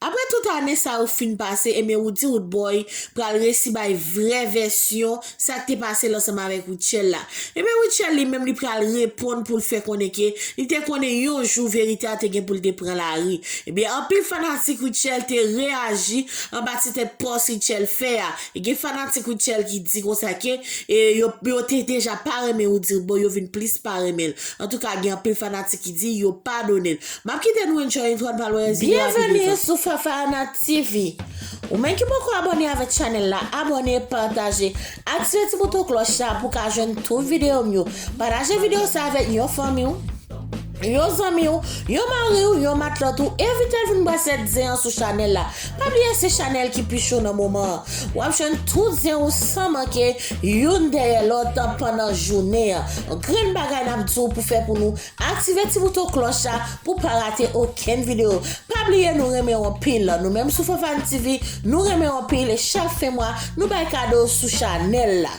Aprè tout ane sa yo fin pase ebyen ou di Roodboy pral resi bay vrè vèsyon sak te pase l ansanm avèk Rutshelle la. Ebyen Rutshelle li menm li pral reponn pou l fè konnen ke li te konnen yon jou verite a te gen pou l te pran lari. Ebyen anpil fanatik Rutshelle te reyaji anba ti tèt pòs Rutshelle fè a. E gen fanatik Rutshelle ki di konsa ke yo te deja pa renmen Roody Roodboy yo vin plis pa renmen l. Antouka gen anpil fanatik ki di yo padone l. Map kite nou enjoy yn tròn pa lwè zile a pi devan. Byenveni sou Fafana TV! Ou menm ki poko abòne avèk chanèl la abòne, pataje, aktive ti bouton klòch la pou ka jwenn tout videyo m yo. Pataje videyo sa avèk yon fanmi w, yon zanmi w, yon mari w, yon matlòt ou, envite l vin bwè 7 zen an sou chanèl la. Pa bliye se chanèl ki pi cho nan moman an. Wap jwenn tout zen ou san manke, youn dèyè lòt pandan jounen an. Grenn bagay nap di w pou fè pou nou Aktive ti bouton klòch la pou pa rate okenn video pa bliye nou renmenw anpil nou menm sou Fanfane TV nou renmenw anpil e chak fen mwa nou bay kado sou chanèl la.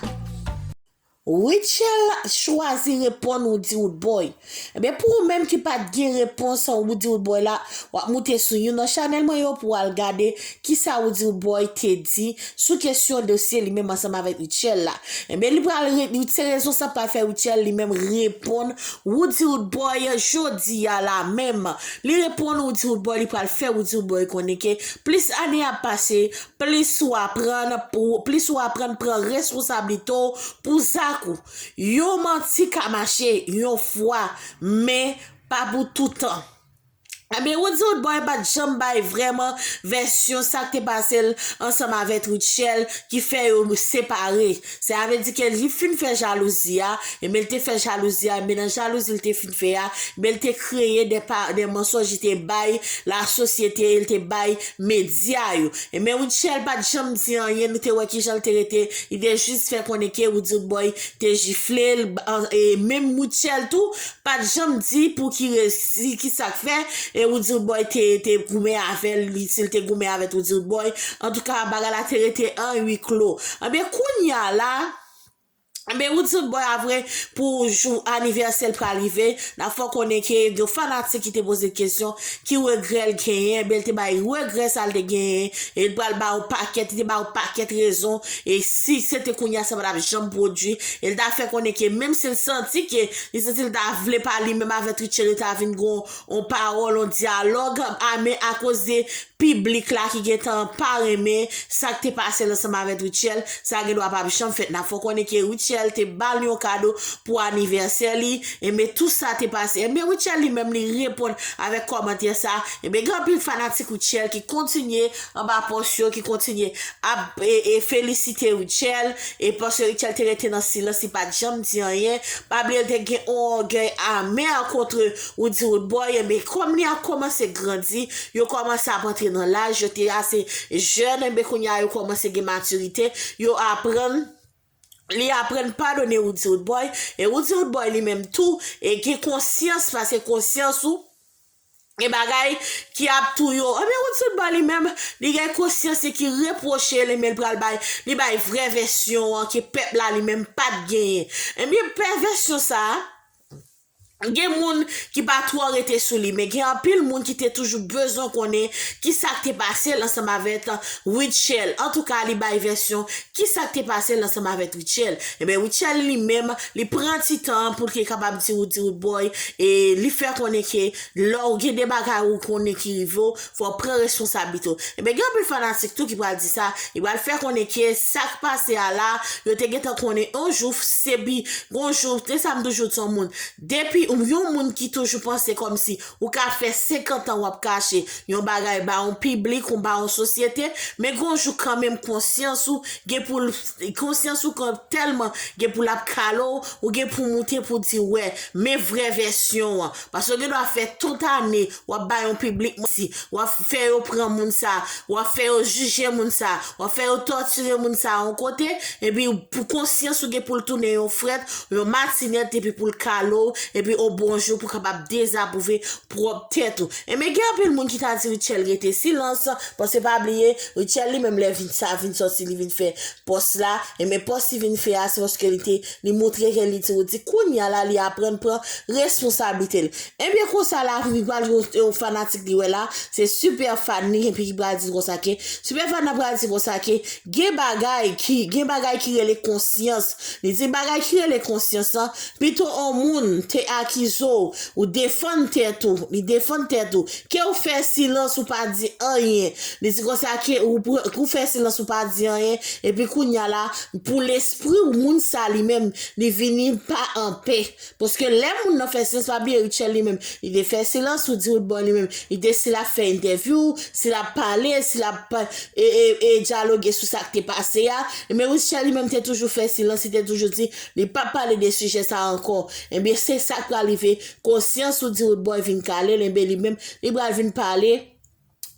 Rutshelle chwazi reponn Woodywoodboy Ebyen pou ou menm ki pat gen repons Woodywoodboy la wap moute sou youn nan chanèl mwen yo pou al gade Kisa ou di Roodboy te di sou kesyon dosye li menm ansanm avèk Rutshelle la? Enben li pral se rezon sa pral fè Rutshelle li menm reponn Roody Roodboy jodi a la menm. Li reponn Roody Roodboy li pral fè Roody Roodboy konnen ke plis ane ap pase plis ou aprann pou plis ou aprann pran responsablite w pou zak ou. Yon manti ka mache yon fwa men pa pou toutan. Ebyen Rod se Rodboy pat janm bay vrèman vèsyon sak te pasel ansanm avèt Rutshelle ki fè yo separe se avè di ke li fin fè jalouzi a ebyen li te fè jalouzi a ebyen nan jalouzi li te fin fè a ebyen li te kreye de pa de mansonj li te bay la sosyete li te bay medya yo ebyen Rutshelle pat janm di anyen nou te wè kijan li te rete li te jis fè konnen ke Roody Rodboy te jiflel e menm Rutshelle tou Pat janm di pouki resi kisak fè e roodyrboy te te goumen avèl li sil te goumen avèt roodyrboy antouka bagay la te rete an ui klo anben kounya la anben roodyrboy apre pou jou anivèsèl pral rive nap fè w konnen ke gen fanatik ki te pozel kesyon ki regrè l genyen anben l te bay regrè sal te genyen e l pral ba w pakèt li te ba w pakèt rezon e si sete kounya sa patap janm pwodwi e l ta fè konnen ke menm sil santi ke Li santi l ta vle pale menm avè Triche li ta vin gon on pawòl on dyalòg a men akoze piblik la ki gentan pa renmen sak te pase l ansanm avè Rutshelle sa gendwa pap janm fèt nap fè w konnen ke Rutshelle te bal yon kado pou anivèsè li enben tou sa te pase enben Rutshelle li menm li reponn avèk kòmantè sa enben gen anpil fanatik Rutshelle ki kontinye anba pòs yo ki kontinye ap felisite Rutshelle e paske Rutshelle te rete nan silans li pat janm di anyen pa bliye l te gen on ògèy amè kontre Roody Roodboy enben kòm li ap kòmanse grandi yo kòmanse ap antre nan laj yo te ase jèn enben kounye a yo kòmanse gen matirite yo aprann li aprann padone Roody Roodboy e Roody Roodboy li menm tou gen konsyans paske konsyans ou. Gen bagay ki ap tou yo ebyen Woodson ba li menm li gen konsyans li ki repwoche li men li pral bay li bay vrè vèsyon an ke pèp la li menm pat genyen ebyen pè vèsyon sa gen moun ki pa twò rete sou li men gen anpil moun ki te toujou bezwen konnen ki sak te pase l ansanm avèk Rutshelle antouka li bay vèsyon ki sak te pase l ansanm avèk Rutshelle ebyen Rutshelle li menm li pran ti tan an poul te kapab di Roody Rood boy e li fè konnen ke lèw gen de bagay ou konnen ki rive w fòw pran responsablite w ebyen gen anpil fanatik tou ki pral di sa li pral fè konnen ke sak pase a la yo te gentan konnen yon jou se bi gon jou se sa m toujou di yon moun depi yon moun ki toujou panse kòmsi Ou ka fè senkantan w ap kache yon bagay ba yon piblik ou ba yon sosyete, men gen yon jou kanmenm konsyans ou gen pou l konsyans ou kan tèlman gen pou l ap kale w, ou gen pou w moute pou w di wè, men vrè vèsyon an. Paske w gen dwa fè tout ane w ap ba yon piblik manti, w ap fè yo pran moun sa, w ap fè yo jije moun sa, w ap fè yo tòtire moun sa yon kote, epi pou konsyans ou gen pou l tounen yon frèt, yon matinèt epi pou l kale w, epi o bonjou pou w kapab. dezapwouve pwòp tèt ou. Enben gen anpil moun ki ta di Rutshelle rete silans, paske pa bliye Rutshelle li menm lè vin sa vin sòti li vin fè pòs la, enben pòs li vin fè a se paske li te li moutre ke li ti redi kounya la li aprann pran responsablite l. Enben konsa lavi li pral gen yon fanatik li wè la se Superfan li epi ki pral di l konsa ke Superfan nan pral di l konsa ke Gen bagay ki, gen bagay ki rele konsyans. Li di bagay ki rele konsyans lan, pito on moun te akize w, ou defann tèt ou, li defann tèt ou, ke ou fè silans ou pa di anyen. Li di konsa ke ou pran, ke ou fè silans ou pa di anyen, epi kounye a la, pou lespri w, moun sa li menm, li vini pa anpè. Paske lè moun nan fè silans, pa bliye Rutshelle li menm, li te fè silans, ou di Roodboy li menm, li te si lap fè entèvyou, si lap pale, si lap e, e, e dyaloge sou sa k te pase a, enben Rutshelle li menm te toujou fè silans, li te toujou di li pap pale de sijè sa a ankò. Enben se sa k pral rive, konsyans ou di Roodboy vin kale l, enben li menm li pral vin pale,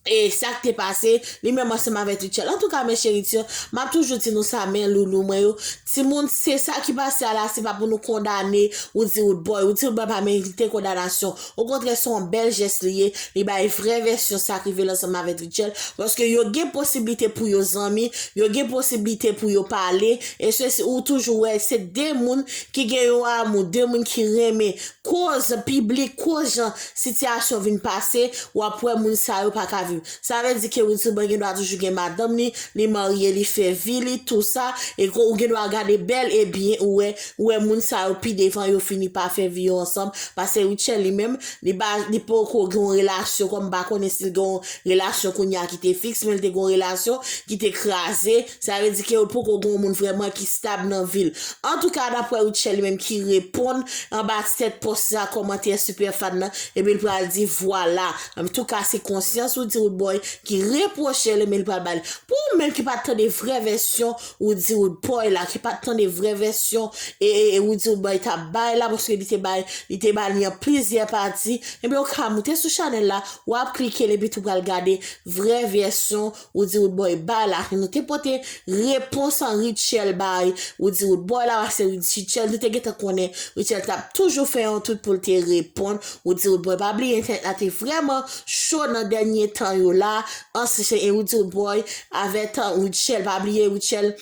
e sak te pase li menm ansanm avèk Rutshelle antouka mes cherites map toujou di nou sa men loulou mwen yo timoun se sa ki pase a la se pa pou nou kondane Roody Roodboy Roody Roodboy pa merite kondanasyon okontrè se yon bèl jès li ye li bay vrè vèsyon sak rive l ansanm avèk Rutshelle paske yo gen posiblite pou yo zanmi yo gen posiblite pou yo pale e sesi ou toujou wè se de moun ki gen yon amou de moun ki renmen koz piblik koz jan sitiyasyon vin pase wap wè moun sa yo paka viv sa vle di ke wiltouban gen dwa toujou gen madanm li li marye li fè vi li tou sa e ke ou gen dwa gade bèl e byen ou wè ou wè moun sa yo pi devan yo fini pa fè vi yo ansanm pase Rutshelle li menm li pa li poko gen yon relasyon kòm m pa konnen si l gen yon relasyon kounya ki te fiks men l te gen yon relasyon ki te kraze Sa vle di ke yo poko gon moun vrèman ki stab nan vil. Antouka daprè Rutshelle li menm ki reponn anba tèt pòs sa kòmantè Super Fan nan epi li pral di vwala antouka se konsyans ou di Roodboy ki repwochel men li pral bal pou ou menm ki pat tande vrè vèsyon ou di Roodboy la ki pat tande vrè vèsyon e ou di Roodboy tap bay la paske li te bay li te ba li an plizyè pati ebyen ou ka moute sou chanèl la wap klikel epi tou pral gade vrè vèsyon Ou di Roodboy bay la nou te pote repons an Rutshelle bay ou di Roodboy la pase Rutshelle nou te gentan konnen Rutshelle tap toujou fè yon tout poul te reponn ou di Roodboy pa bliye entènèt la te vrèman cho nan dènye tan yo la an se ou di Roodboy avè tan Rutshelle pa bliye Rutshelle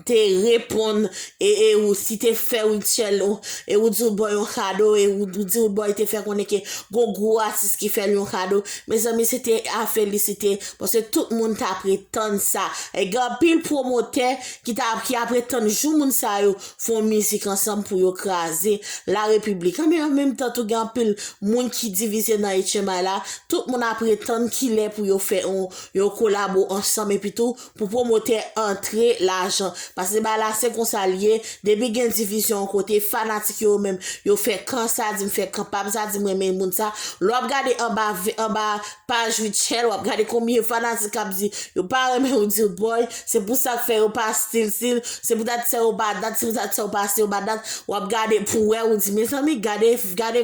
te reponn e e ou si te fè Rutshelle ou e ou di ou t bòy yon kado e ou di ou bòy te fè konnen ke gon gwo atis ki fèl yon kado mezanmi se te a felisite paske tout moun ta pretann sa e gen anpil pwomotè ki ta ki apre tann jou moun sa yo fon mizik ansanm pou yo kraze la repiblik la men an menm tan tou gen anpil moun ki divize nan etchenmay la tout moun apre tann kilè pou yo fè yon yon kolabo ansanm epi tou pou pwomotè antre lajan pase ba la se konsa l ye depi gen divizyon yon kote fanatik yo yo menm yo fè kan sa di m fè kan pa m sa di m renmen moun sa lè w ap gade anba anba paj Rutshelle w ap gade konbyen fanatik k ap di yo pa renmen w di l boy se pou sa k fè yo pa stil stil se pou dat sa yo pa dat se pou dat sa yo pa stil yo pa dat w ap gade pou w wè ou di mezanmi gade gade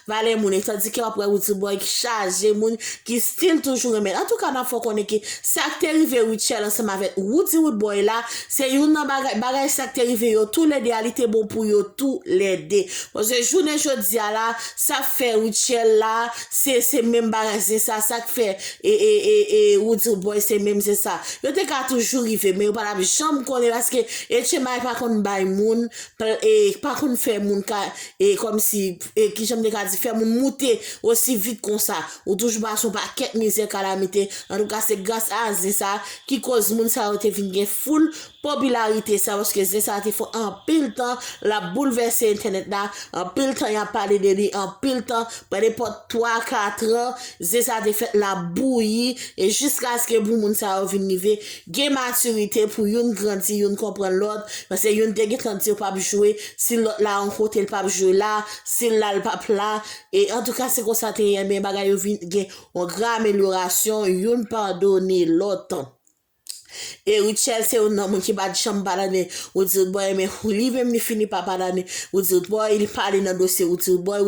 Valè moun e tandike wap wè Rutshelle boy ki chaje moun ki still toujou renmen l antouka map fè w konnen ke sak te rive Rutshelle ansanm avèk Roody Roodboy la se youn nan bagay bagay sak te rive yo tou lè 2 a li te bon pou yo tou lè 2 paske jounen jodi a la sap fè Rutshelle la se se menm bagay se sa sak fè e e e e Roody Roodboy se menm se sa yo te ka toujou rive men yo pa tap janm konnen paske Etchenmay pa konn bay moun pl e pa konn fè moun ka e kòmsi e kijan m te ka di, fè moun moute osi vit konsa. Ou toujou pase yon pakèt mizè, kalamite. Antouka se gras a zen sa ki koz moun sa yo te vin gen foul popilarite sa paske zen sa te fè anpil tan l ap boulvèse entènèt la, anpil tan y ap pale de li, anpil tan, pa nenpòt twa, katran, zen sa te fèt l ap bouyi e jiskaske pou moun sa yo vin rive gen matirite pou youn grandi, youn konprann lòt paske youn te gentan di yo p ap jwe si lòt la yon kote l pap jwe la, si l la l pap la, e antouka se konsa te ye men bagay yo vin gen yon gran amelyorasyon youn padone lòt. E Rutshelle se youn nan moun ki pat janm padone Roody Boy men li menm li fini pa padone Roody Boy, li pale nan dosye Roody Boy,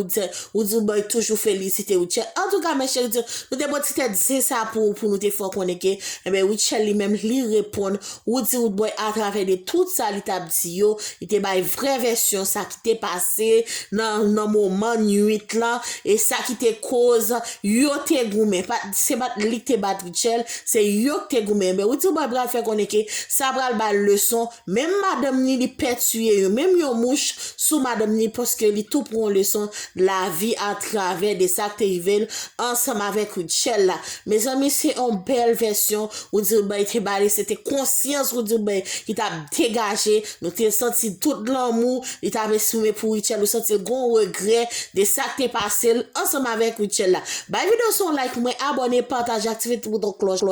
Roody Boy toujou felisite Rutshelle. Antouka mes chers nou te pran ti tèt zen sa pou nou te fè w konnen ke Rutshelle li menm li reponn Woody Woodboy atravè de tout sa li tap di yo, li te bay vrè vèsyon sa ki te pase nan nan moman nwit lan e sa ki te koz yo te goumen, pat se pat li ki te bat Rutshelle, se yo ki te goumen, enben Woody Woodboy pral fè konnen ke sa pral bal leson, menm madanm ni li pè tiye yo, menm yon mouch sou madanm ni paske li tou pran yon leson lavi atravè de sak te rivel ansanm avèk Rutshelle la, mezanmi se yon bèl vèsyon. Rudy Rubay te ba li, se te konsyans Rudy Rubay ki t ap degaje, nou te santi tout lanmou li t ap esprime pou Rutshelle, ou santi l gon regrè de sa k te pase l ansanm avèk Rutshelle la. Bay video sa yon like pou mwen, abòne, pataje, aktive ti bouton klòch la.